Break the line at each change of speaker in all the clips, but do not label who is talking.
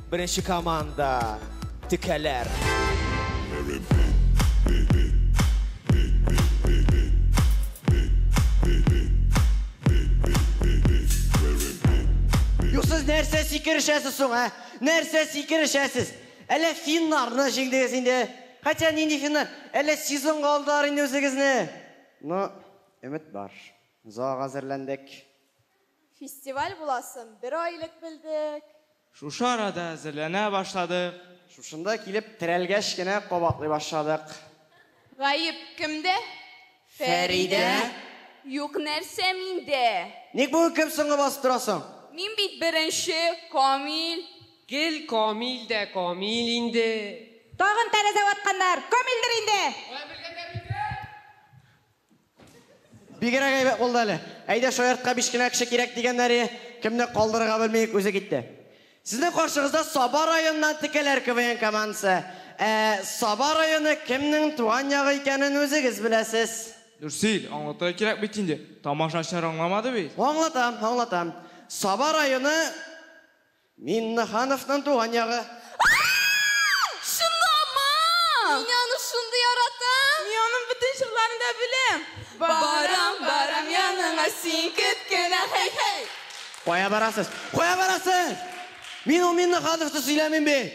Беренче команда текәләр.
Юксыз нәрсә сикерешәсез соң, ә? Нәрсә сикерешәсез? Әллә финнарны җиңдегез инде? Хотя нинди финнар? Әллә сезонга алдылар инде үзегезне? Ну, Өмет бар. Зоага әзерләндек. Фестиваль
буласын бер ай элек белдек. Шушы арада
әзерләнә башладык. Шушында килеп
терәлгәч кенә кабатлый башладык. Гаеп
кемдә? Фәридә? Юк нәрсә миндә. Ник бүген кем соңгы
басып торасың? Мин бит
беренче, Камил. Гел
Камил дә Камил инде. Тагын тәрәзә
ватканнар, Камилдер инде! Алай белгәннәр микән?
Бигрәк әйбәт булды әле. Әйдә, шаяртка биш кенә кеше кирәк дигәннәре, кемне калдырырга белми үк үзе китте. Сезнең каршыгызда Саба районыннан Текәләр КВН командасы. Ә Саба районы кемнең туган ягы икәнен үзегез беләсез. Нурсил, аңлатырга
кирәк бит инде, тамашачылар аңламады бит. Аңлатам, аңлатам.
Саба районы. Миннехановның туган ягы. Ааа!
Чынлама! Мин аны шундый яратам! Мин аның бөтен
җырларын да беләм! Барам,
барам яныңа син кет кенә, һей-һей! Кая барасыз?
Кая барасыз? Мин ул Миннехановны сөйләмим бит!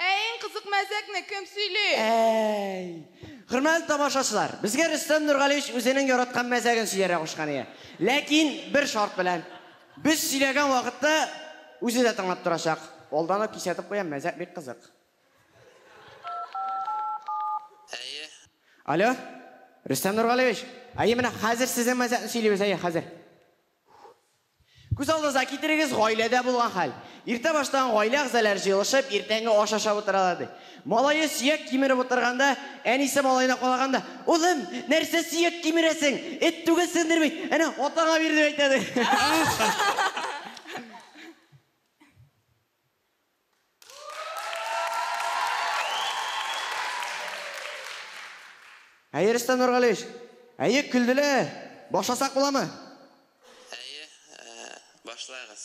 Ә иң кызык мәзәкне кем сөйли? Әй!
Хөрмәтле тамашачылар, безгә Рөстәм Нургалиевич үзенең яраткан мәзәген сөйләргә кушкан иде. Ләкин бер шарт белән. Без сөйләгән вакытта үзе дә тыңлап торачак. Алдан ук кисәтеп куям, мәзәк бик кызык. Әйе. Алло, Рөстәм Нургалиевич. Әйе, менә хәзер сезнең мәзәкне сөйлибез, әйе, хәзер. Күз алдыгызга китерегез, гаиләдә булган хәл. Иртә баштан гаилә әгъзалары җыелышып, иртәнге аш ашап утыралар, ди. Малае сөяк кимереп утырганда, әнисе малаена калаганда, Улым, нәрсә сөяк кимерәсең? Эт түгелсеңдер бит! Әнә, атаңа бир, дип әйтә, ди. Әйе, Рөстәм Нургалиевич. Әйе, көлделәр. Башласак буламы? Әйе,
башлагыз.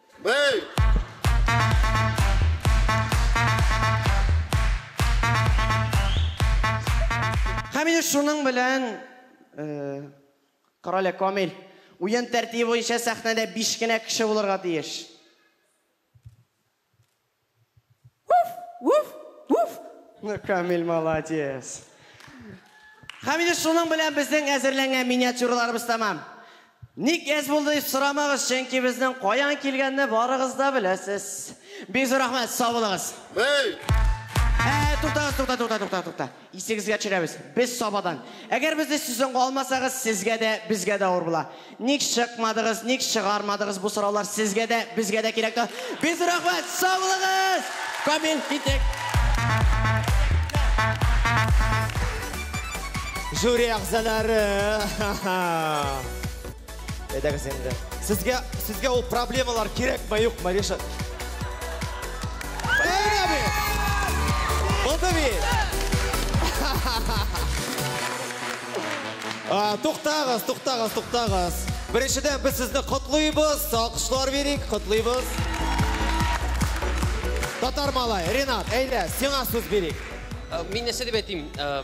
Бей!
Һәм инде шуның белән, э, карале, Камил, уен тәртибе буенча сәхнәдә биш кенә кеше булырга тиеш. Ну, Камиль, молодец! Һәм инде шуның белән безнең әзерләнгән миниатюраларыбыз тәмам. Ник әз булды дип сорамагыз, чөнки безнең каян килгәнне барыгыз да беләсез. Бик зур рәхмәт, сау булыгыз! Бәй!
Ә-ә, туктагыз, тукта, тукта,
тукта, тукта. Исегезгә төшерәбез, без Сабадан. Әгәр безне сезонга алмасагыз, сезгә дә, безгә дә авыр була. Ник чыкмадыгыз, ник чыгармадыгыз, бу сораулар сезгә дә, безгә дә кирәк та. Без рәхмәт, сау булыгыз! Камил, киттек! Жюри әгъзалары! Әйдәгез инде. Сезгә, сезгә ул проблемалар кирәкме, юкмы, Ришат? Бәйрә бит! Булды бит! А, Туктагыз, туктагыз, туктагыз. Беренчедән без сезне котлыйбыз, алкышлар бирик, котлыйбыз. Татар малай, Ренат, әйдә, сиңа сүз бирик.
Ә, Мин нәрсә дип әйтим? Ә,